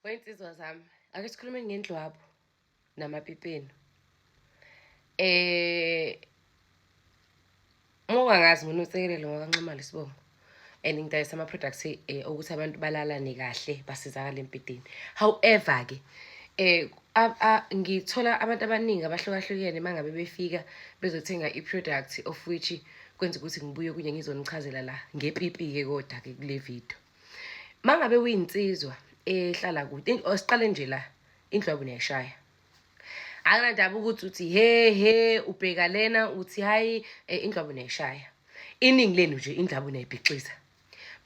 Wey'nsizwa zami, ake sikhulumeni ngendlwabu namapipenu. Eh uma ungangazi mina usekelelo ngokanxumalo sibongo and ngidayisa ama-products eh, okuthi abantu balalane kahle basizakale empidini however-ke eh ngithola abantu abaningi abahlukahlukene uma ngabe befika bezothenga i-product of which kwenza ukuthi ngibuye kunye ngizonichazela la ngepipi-ke kodwa-ke kule video mangabe uyinsizwa ehlala kude oh, siqale nje la indlu yabo niyayishaya akunandaba ukuthi uthi he he ubheka lena uthi hayi eh, indlu yabo niyayishaya iningi lenu nje indlu yabo niyayibhixisa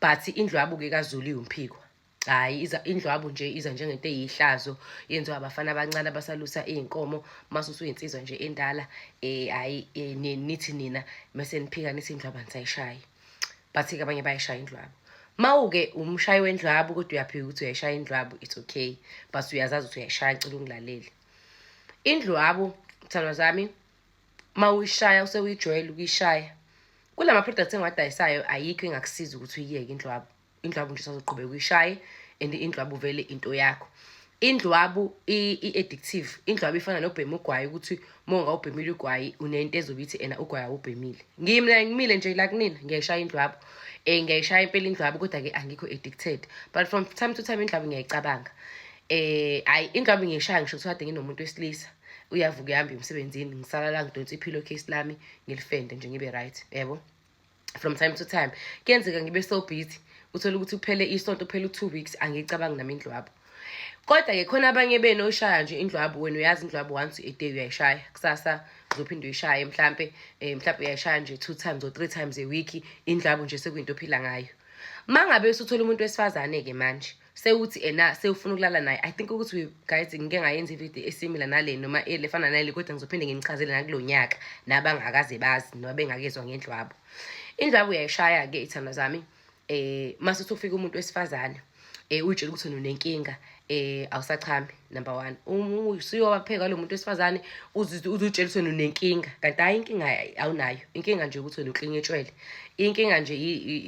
but indlu yabo ke kazulu iwumphiko hayi iza indlu yabo nje iza njengento eyihlazo yenziwa abafana abancane abasalusa izinkomo mase usuyinsizwa nje endala eh hayi eh, nithi nina mase niphika nithi indlu abanisayishayi but-ke abanye bayayishaya indlu yabo mawuke umshayi wendlu yabo kodwa uyaphika ukuthi uyayishaya indlu yabo it's okay but uyazazi ukuthi uyayishaya cela ungilalele indlu yabo mthandwa zami ma uyishaya usewuyijwayele ukuyishaya kula ma-products engiwadayisayo ayikho engakusiza ukuthi uyiyeke indlu yabo indlwabu nje sazoqhubeka uyishaye and indlwabu vele into yakho indlwabu i-addictive indlwabu ifana nobhema ugwayi ukuthi uma ungawubhemile ugwayi unento ezobe ithi ena ugwayi awubhemile ngimna ngimile nje la kunina ngiyayishaya indlwabu um ngiyayishaya impela indlwabu kodwa-ke angikho addicted but from time to time indlwabu ngiyayicabanga um hhayi indlwabu ngiyishaya ngisho kuthiwa kade nginomuntu wesilisa uyavuka uyahambe emsebenzini ngisalala ngidonsa iphilo case lami ngilifende nje ngibe right yebo from time to time kuyenzeka ngibe so busy uthole ukuthi kuphele isonto kuphele u-two weeks angiyicabangi nami indlu yabo kodwa-ke khona abanye benu oshaya nje indlu yabo wena uyazi indlu yabo once a day uyayishaya kusasa uzophinde uyishaye mhlampe um mhlampe uyayishaya nje two times or three times a week indlu yabo nje sekuyinto ophila ngayo uma ngabe usuthole umuntu wesifazane-ke manje sewuthi ena sewufuna ukulala naye i think ukuthi guys ngike ngayenza ivideo esimila nale noma elefana nale kodwa ngizophinde nginichazele nakulo nyaka nabangakaze bazi noma bengakezwa ngendlu wabo indlu yabo uyayishaya-ke ithando zami um mase usufika umuntu wesifazane um uyitshela ukuthi nonenkinga um awusachambi number one usuyowapheka lo muntu wesifazane uzutshelise wena unenkinga kanti hhayi inkinga awunayo inkinga nje ukuthi wena uklinye etshwele inkinga nje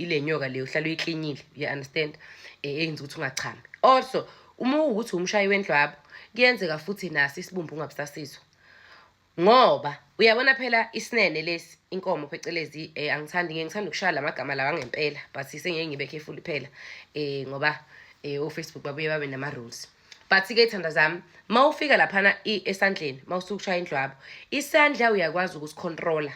ile nyoka leyo uhlala uyiklinyile you understand e, eyenza ukuthi ungachami also uma uwukuthi umshayi wendlwabo kuyenzeka futhi naso isibumbu ungabusasizwa Ngoba uyabona phela isinene lesi inkomo phecelezi eh angithandi ngeke ngithanda ukushaya lamagama lawa ngempela but sengeke ngibe careful phela eh ngoba eh o Facebook babuye babe nama rules but ke thanda zami mawufika laphana esandleni mawusukushaya indlwabo isandla uyakwazi ukusicontroller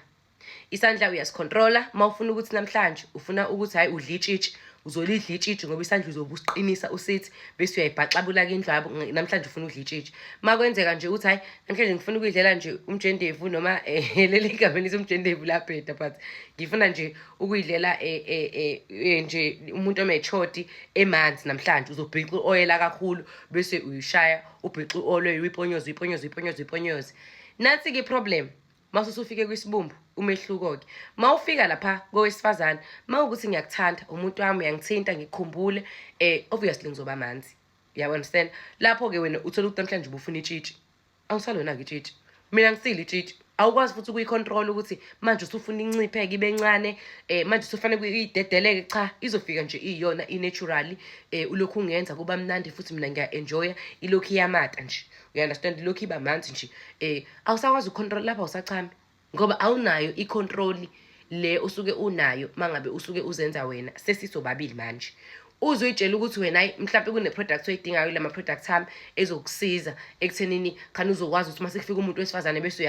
isandla uyasicontrola uma ufuna ukuthi namhlanje ufuna ukuthi hhayi udla itshitshi uzolidla itshitshi ngoba isandla uzobe usiqinisa usithi bese uyayibhaxabula-ke indlu yabo namhlanje ufuna udla itshitshi uma kwenzeka nje ukuthi hhayi namhlanje ngifuna ukuyidlela nje umjendevu noma um leli igama lithi umjendevu labheda but ngifuna nje ukuyidlela um nje umuntu omechodi emanzi namhlanje uzobhixa u-oyela kakhulu bese uyishaya ubhixa u-olwe uyiponyoze uyiponyoze uyiponyoze uyiponyoze nansi-ke i-problem mase usufike kwisibumbu umehluko-ke ma ufika lapha kowesifazane ma ukuthi ngiyakuthanda umuntu wami uyangithinta ngikhumbule um obviously ngizoba manzi yabo understand lapho-ke wena uthole ukuthi namhlanje ubufuna itshitshi angisalona-ke itshitshi mina ngisile itshitshi awukwazi futhi ukuyi-control ukuthi manje usufuna inciphe-ke ibe ncane um manje usufanele idedeleke cha izofika nje iyiyona i-naturally um ulokhu ungenza kuba mnandi futhi mina ngiya-enjoya ilokhu iyamata nje you understand lokhu iba manzi nje um awusakwazi ucontrol lapha awusachami ngoba awunayo i-control le usuke unayo uma ngabe usuke uzenza wena sesisobabili manje uzoyitshela ukuthi wena ayi mhlawumpe kune-product oyidingayo lama products ami ezokusiza ekuthenini khani uzokwazi ukuthi uma sekufika umuntu wesifazane bese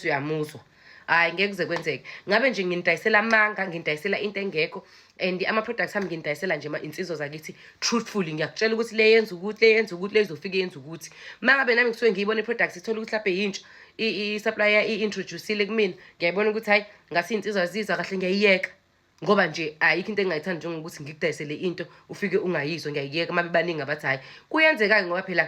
uyamuzwa hayi ngeke kuze kwenzeke ngabe nje nginidayisela amanga nginidayisela into engekho and ama-products ami nginidayisela nje insizwa zakithi truthfully ngiyakutshela ukuthi le yenza ukuthi le yenza ukuthi le izofike yenza ukuthi uma ngabe nami ngisuke ngiyibona i-products ithole ukuthi laphe yintsha i-supplier i-introducile kumina ngiyayibona ukuthi hhayi ngathi iy'nsizwa ziza kahle ngiyayiyeka ngoba nje ayikho into engingayithandi njengokuthi ngikudayisele into ufike ungayizwa ngiyayiyeka uma bebaningi abathi hhayi kuyenzeka-ke ngoba phela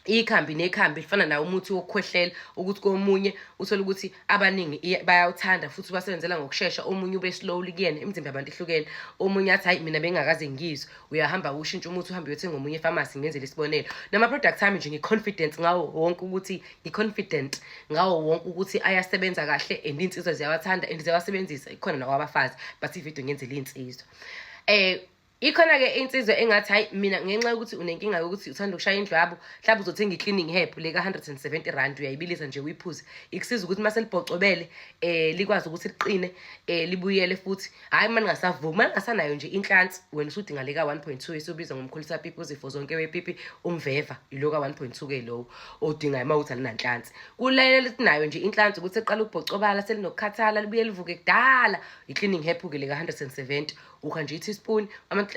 ikhambi nekhambi lifana nawo umuthi wokukhwehlela ukuthi komunye uthole ukuthi abaningi bayawuthanda futhi basebenzela ngokushesha omunye ube slowly kuyena imizimba yabantu ihlukene omunye athi hayi mina bengingakaze ngizwe uyahamba ushintsha umuthi uhambe uyothenga omunye efamasi ngenzela isibonelo nama-products ami nje ngi-confidence ngawo wonke ukuthi ngi-confident ngawo wonke ukuthi ayasebenza kahle and iy'nsizwa ziyawathanda and ziyawasebenzisa ikhona nakwabafazi but ividiyo ngenzela iy'nsizwa um eh, Ikhona ke insizwa engathi hayi mina ngenxa yokuthi unenkinga yokuthi uthanda ukushaya indlu yabo mhlawumbe uzothenga i-cleaning herb le ka-170 rand uyayibilisa nje uyiphuze ikusiza ukuthi uma selibhocobele um likwazi ukuthi liqine um libuyele futhi hhayi uma ningasavumi uma ningasanayo nje inhlansi wena usudinga le ka-one point two esiwubiza ngomkhulisa pipi uzifo zonke wepipi umveva yilo ka-one point two ke lowo odingayo uma ukuthi alinanhlansi kulele lisinayo nje inhlansi ukuthi eqala ukubhocobala selinokukhathala libuye livuke kudala i-cleaning herb-ke le ka-170 ukha nje i-teaspoon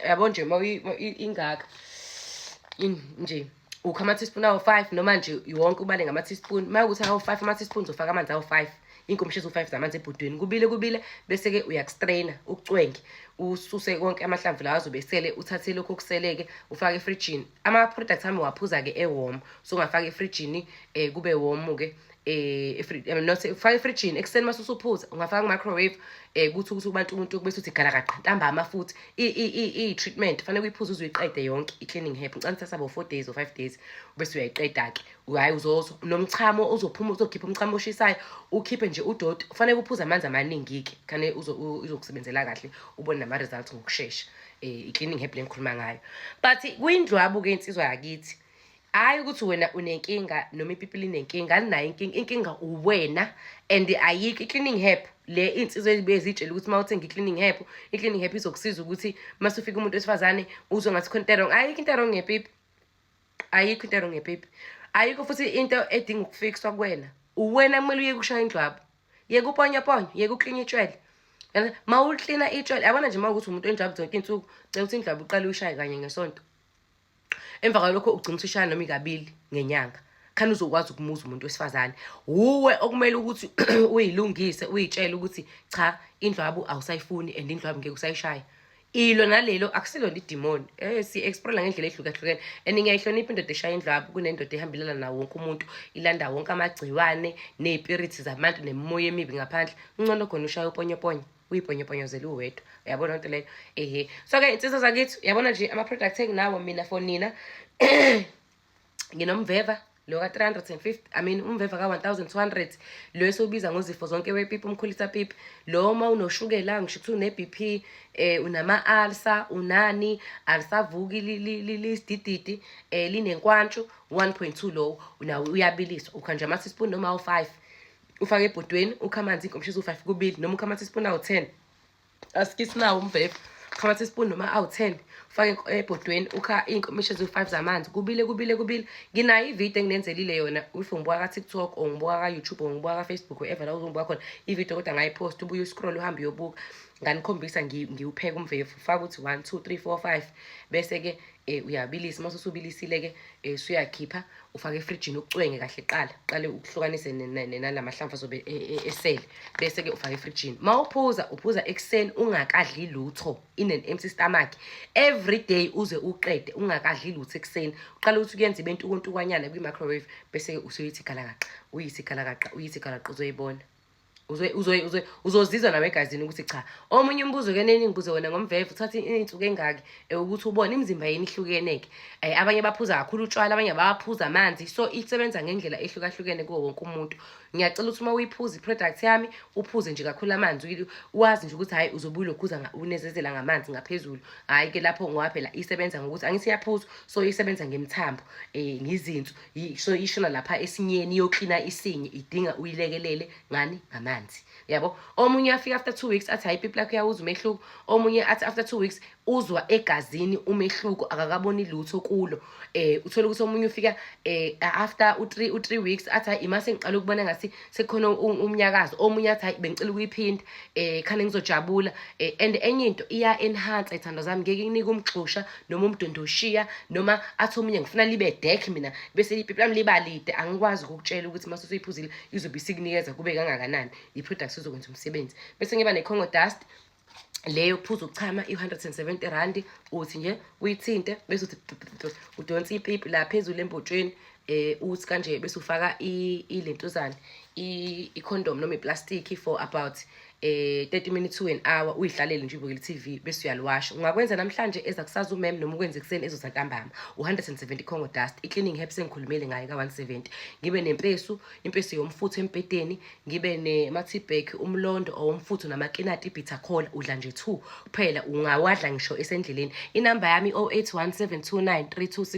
yabo nje uma ingaka nje ukha ama-teaspoon awu-five noma nje wonke ubale ngama-teaspoon uma ukuthi awu-five ama-teaspoon zofaka amanzi awu-five iy'nkomishi eziwu-five zamanzi ebhodweni kubile kubile bese-ke uyakustrayina ukucwenke ususe konke amahlamvu lawa azobe esele uthathe lokhu okuseleke ufake efrijini ama-product ami waphuza-ke ewom so ungafaka efrijini um eh, kube womu-ke eh not ufaka efrijini ekuseni mase usuphuza ungafaka ku-microwave eh kuthi ukuthi kubantu umuntu bese uthi galakaqa ntambama futhi i-treatment fanele uyiphuze uze uyiqede yonke i-cleaning herb ngicela uthatha bo-four days or five days bese uyayiqeda-ke hhayi uzozo nomchamo uzophuma uzokhipha umchamo oshisayo ukhiphe nje udoti kufanele uphuze amanzi amaningi-ke khane uzokusebenzela kahle ubone nama-results ngokushesha um i-cleaning herb le ngikhuluma ngayo but kuyindlwabu-ke insizwa yakithi hayi ukuthi wena unenkinga noma ipipi linenkinga alinayo inkinga inkinga uwena and ayikho i-cleaning hep le iy'nsizwa ezibuye ziyitshele ukuthi uma uthenga i-cleaning hep i-cleaning hep izokusiza ukuthi uma sufika umuntu wesifazane uzwe ngathi khona into erong ayikho into erong ngepipi ayikho into erong ngepipi ayikho futhi into edinga ukufikswa kuwena uwena kumele uye kushaya indlwabo yeke uponyaponya yeke uklinya itshwele ma uklina itshwele yabona nje uma ukuthi umuntu onjwabu zonke iy'nsuku cela ukuthi indlwabo uqale uyishaye kanye ngesonto emva kwalokho ugcina usushaya noma ikabili ngenyanga khani uzokwazi ukumuza umuntu wesifazane wuwe okumele ukuthi uyilungise uyitshele ukuthi cha indlu yabo awusayifuni and indlu yabo ngeke usayishaya ilo nalelo akusilona idimoni eh si-explora ngendlela ehlukahlukene and ngiyayihlonipha indoda eshaya indlu yabo kunendoda ehambelana nawo wonke umuntu ilanda wonke amagciwane ney'pirithi zabantu nemimoya emibi ngaphandle uncono khona ushaya uponyoponyo uyibhonyobhonyozela uwedwa uyabona onto leyo ehe so-ke insizwa zakithi uyabona nje ama-product enginawo mina for nina nginomveva lo ka-350 i mean umveva ka-1200 lo esiwubiza ngozifo zonke wepipi umkhulisa pipi lo uma unoshukela ngisho ukuthi une-b p um eh, unama-alsa unani alisavuki lisidididi um eh, linenkwantshu 1.2 lowo nawo uyabiliswa ukhanjamasa isipuni noma u-five ufake ebhodweni ukha amanzi inkomo ishiza u-five kubili noma ukha amanzi isipuni awu-ten asike sinawo umvevu ukha amanzi isipuni noma awu-ten ufake ebhodweni ukha iy'nkomo ishiza u-five zamanzi kubile kubile kubile nginayo ividiyo enginenzelile yona if ngibuka ka-tiktok or ngibuka ka-youtube or ngibuka ka-facebook wherever la uzongibuka khona ividiyo kodwa ngayipost ubuye uscroll uhambe uyobuka nganikhombisa ngiwupheka umvevu faka ukuthi one two three four five bese-ke eh uyabilisa mase usubilisile ke eh usuyakhipha ufake efrijini ucwenge kahle qala qale ukuhlukanise nalalamahlamvu azobe e, e, esele bese ke ufake efrijini mawuphuza uphuza ekseni ungakadli lutho in an empty stomach every day uze uqede ungakadli lutho ekseni uqala ukuthi kuyenza ibe ntukuntukwanyana kwi microwave bese ke usuyithi galakaqa uyithi galakaqa uyithi galakaqa uzoyibona uzozizwa nawe egazini ukuthi cha omunye umbuzo ke neningibuze wena ngomvevu uthatha insuku engaki eh, ukuthi ubone imizimba yini ihlukeneke um eh, abanye baphuza kakhulu utshwala abanye abawaphuza amanzi so isebenza ngendlela ehlukahlukene kuwo wonke umuntu ngiyacela ukuthi uma uyiphuza i-product yami uphuze nje kakhulu amanzi wazi nje ukuthi hhayi uzobe ulokhuza unezezela ngamanzi ngaphezulu hhayi ke lapho ngoba phela isebenza ngokuthi angithi iyaphuzwa so isebenza ngemthambo um ngizinso so ishona lapha esinyeni iyoklina isinye idinga uyilekelele ngani ngamanzi yabo omunye afika after two weeks athi hayi ipipi lakho uyawuza umehluko omunye athi after two weeks uzwa egazini umehluko akakaboni lutho kulo eh uthole ukuthi omunye ufika eh after u3 u3 weeks athi hayi imase ngiqala ukubona ngathi sekukhona umnyakazo omunye athi hayi bengicela ukuyiphinda um khane ngizojabula um and enye into iya-enhance ithando zami ngeke kunike umgxusha noma umdondo ushiya noma athi omunye ngifuna libe dek mina bese ipipi lami liba lide angikwazi ukukutshela ukuthi uma susuyiphuzile izobe isikunikeza kube kangakanani i-product uzokwenza umsebenzi bese ngiba ne-congo dust leyo phuza ukuchama i-170 randi uthi nje uyithinte bese udonsa ipipi la phezulu embotshweni eh uthi kanje bese ufaka ilentuzane i-condom noma i-plastic for about eh 30 minutes to an hour uyihlalele nje ubukele TV bese uyaliwasha ungakwenza namhlanje eza kusaza umem noma ukwenza ekuseni ezoza ntambama u170 Congo dust icleaning herbs engikhulumele ngayo ka170 ngibe nempesu impesu yomfutho empeteni ngibe ne-matibek umlondo or umfutho namakinati ibitha cola udla nje two kuphela ungawadla ngisho esendleleni inamba yami 081 729 326